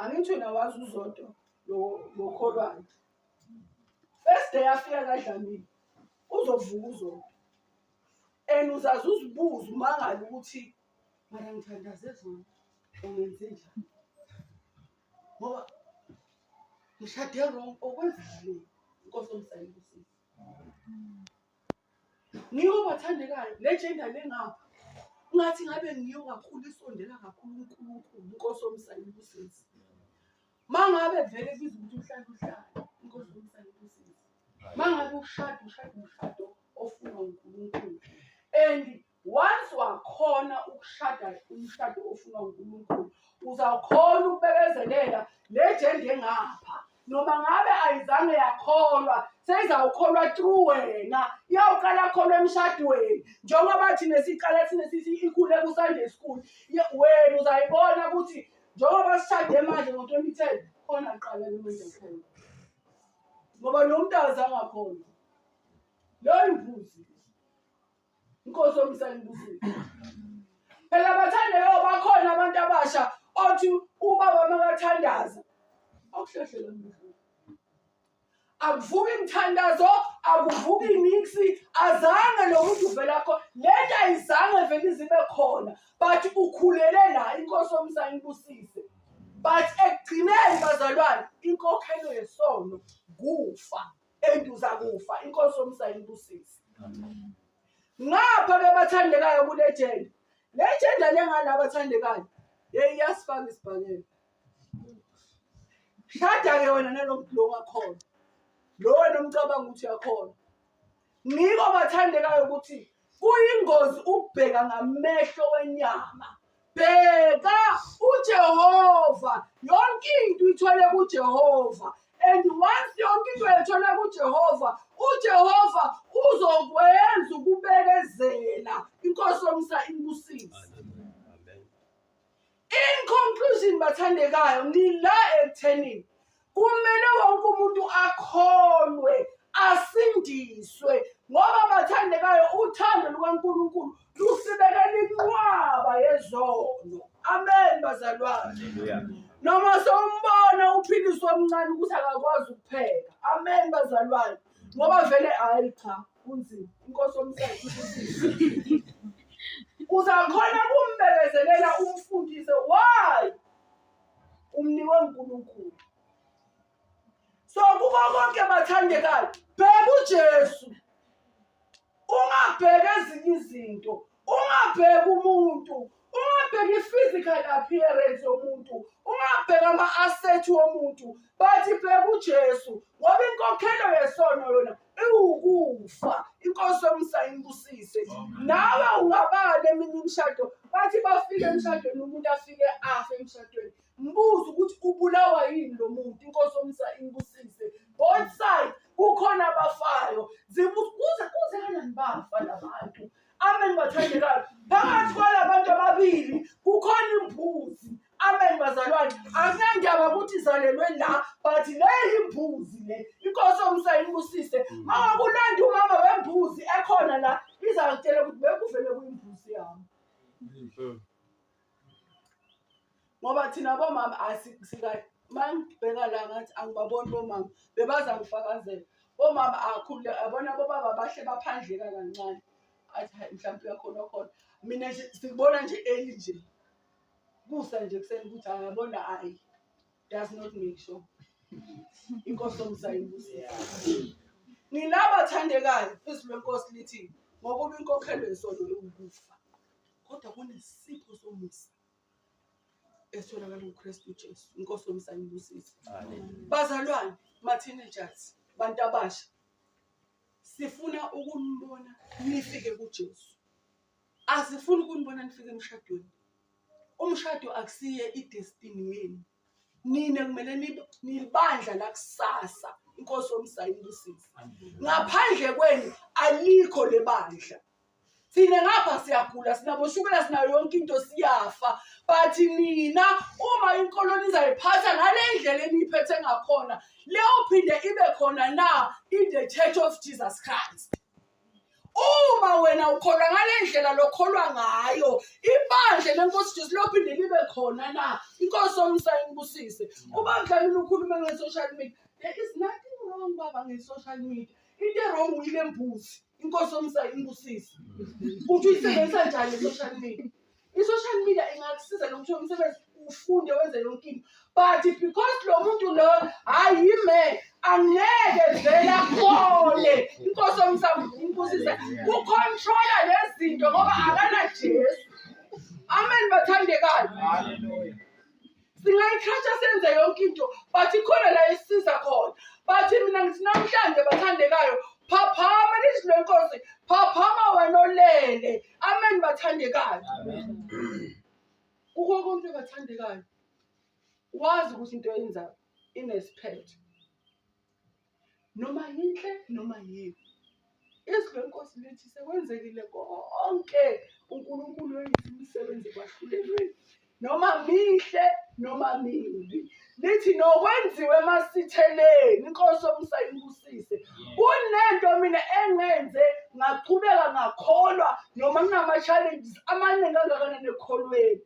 angithi wena wazi uzodwa lokholwane first day afika kadlamile uzovuka uzodwa and uzaze uzibuze umangale ukuthi mara ngithandaze zona ungenze njani ngoba ngishade wrong okwenzile inkosi omsayile usisi ngiwo bathandekayo le gender le ngapha ngathi ngabe ngiyo kakhulu isondela kakhulu uNkulunkulu inkosi omsana ibusisi mangabe vele biza ukuthi uhlala uhlala inkosi omsana ibusisi mangabe ushada ushada umshado ofuna uNkulunkulu and Once wakhona ukushada umshado ofunwa uNkulunkulu, uzawukhona ukubekezelela le jende engapha. Noma ngabe ayizange yakholwa, seyizawukholwa through wena. Iyawuqala kholwa emshadweni. Njengoba thina siqala thina sithi ikhule ku-Sunday school, ye- wena uzayibona ukuthi njengoba sishade manje ngo-2010 khona kuqala le manje khona. Ngoba lo mntu azange akhona. Leyo imbuzi. inkosi yomsana ibusile phela bathandayo bakhona abantu abasha othi ubaba makathandaza akuhlehlela akuvuki imthandazo akuvuki imiksi azange lo muntu uvela kho le nto ayizange vele izibe khona but ukhulele la inkosi omsana ibusise but ekugcineni bazalwane inkokhelo yesono kufa and uzakufa inkosi omsayinibusisi ngapha ke bathandekayo kule jenda le jenda lengane abathandekayo yeyi iyasifaka isibhakela shada-ke wena nalo mdlo ongakhona lo wena umcabanga ukuthi uyakhona ngiko bathandekayo ukuthi Kuyingozi ukubheka ngamehlo wenyama. Bheka uJehova, yonke into ithole kuJehova. And once yonke into yethole kuJehova, uJehova uzokwenza ukubekezela. Inkosi yomsa imbusise. In conclusion bathandekayo ngila ekutheni kumele wonke umuntu akholwe asindiswe ngoba bathandekayo uthando lukaNkulunkulu lusibekela inqwaba yezono amen bazalwane noma sombona uphiliswa omncane ukuthi akakwazi ukupheka amen bazalwane ngoba vele hayi cha kunzima inkosi omsayi uzakhona kumbekezelela umfundise why umniwe uNkulunkulu so kuko konke bathandekayo bheka uJesu ungabheka ezinye izinto ungabheki umuntu ungabheki i-physical appearance yomuntu ungabheki ama-asset womuntu but bheka ujesu ngoba inkokhelo yesono yona iwukufa inkosi yomsa imbusise nawe ungabani eminye imishado bathi bafike emshadweni umuntu afike afe emshadweni mbuze ukuthi ubulawa yini lo muntu inkosi yomsa imbusise both side kukhona abafayo zibuze kuze kanani bafa labantu Amen bathandekayo. Phakathi kwalabantu ababili kukhona imbuzi. Amen bazalwane. Akunandaba ukuthi izalelwe la but le imbuzi le. Inkosi omsayini kusise. Mama kulanda umama wembuzi ekhona la izakutshela ukuthi bekuvele kuyimbuzi yami. ngoba thina bomama asikahle uma ngibheka la ngathi angibaboni bomama bebaza ngifakazela bomama akhule abona bobaba bahle baphandleka kancane athi hayi mhlawumbe uyakhona khona mina nje sikubona nje eli nje kusa nje kuseni ukuthi angabona hayi does not make sure inkosi omsayibusisa nilaba thandekayo izwi lenkosi lithi ngokuba inkokhelo yesono yokufa kodwa kunesipho somusa esitholakala kuKristu Jesu inkosi yomusa ibusise bazalwane ma-teenagers bantu abasha sifuna ukunibona nifike kuJesu asifuni ukunibona nifike emshadweni umshado akusiye idestiny yenu nina kumele nibandla lakusasa inkosi yomsayibusisi ngaphandle kwenu alikho lebandla thina ngapha siyagula sinaboshukela sinayo yonke into siyafa but nina uma inkolo nizayiphatha ngale ndlela eniyiphethe ngakhona leyo phinde ibe khona na in the church of jesus christ uma wena ukholwa ngale ndlela lokholwa ngayo ibandla lenkosi jesu lophinde libe khona na inkosi omsa inibusise ubandlalini ukhulume nge-social media there is nothing wrong baba nge-social media into erong uyile mbuzi inkosi omsayo imbusise ukuthi uyisebenzisa njani i-social media i-social media ingakusiza nokuthi umsebenzi ufunde wenze yonke into but because lo muntu lo hhayi yime angeke vele akhone inkosi omsayo imbusise kukhontrola nezinto ngoba akanajesu amen bathandekayo singayiqhatha senze yonke into but ikhona la isiza khona but mina ngithi namhlanje bathandekayo phaphama lizwi lenkosi phaphama wena olele amen bathandekayo kukho konke bathandekayo wazi ukuthi into yenzayo inesiphetho noma yinhle noma yimbi izwi lenkosi lithi sekwenzekile konke unkulunkulu wenza imisebenzi ekwahlulelweni noma mihle noma mibi lithi nokwenziwe emasitheleni inkosi omsa ibusise kunento mina engenze ngaqhubeka ngakholwa noma kunama-challenges amaningi angakanani ekholweni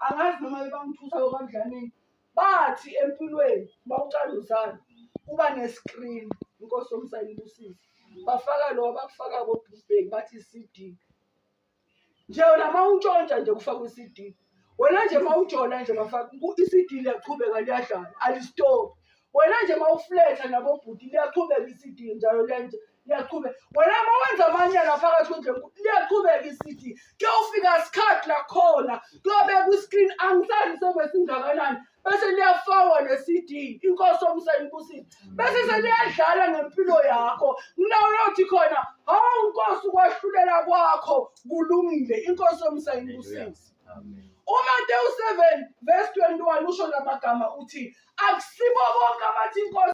angazi noma bebangithusa okandlanini bathi empilweni uma uqala uzana kuba ne-screen inkosi omsayini ibusise bafaka lowa bakufaka kobhubheki bathi i-cd nje wena ma untshontsha nje kufaka i-cd wena nje ma ujola nje bafaka i-cd liyaqhubeka liyadlala alistophi wena nje ma ufletha nabobhuti liyaqhubeka i-cd njalo lenje liyaqhubeka wena uma wenza amanyala phakathi kwendlu enkulu liyaqhubeka isithi kuyofika sikhathi lakhona kuyobeka kwi-screen angisazi sebesingakanani bese liyafakwa ne-cd inkosi omsayibusile bese seliyadlala ngempilo yakho nginawuyothi khona hawu nkosi ukwahlulela kwakho kulungile inkosi omsayibusile umatewu 7 vesi 21 usho la magama uthi akusibo bonke abathi inkosi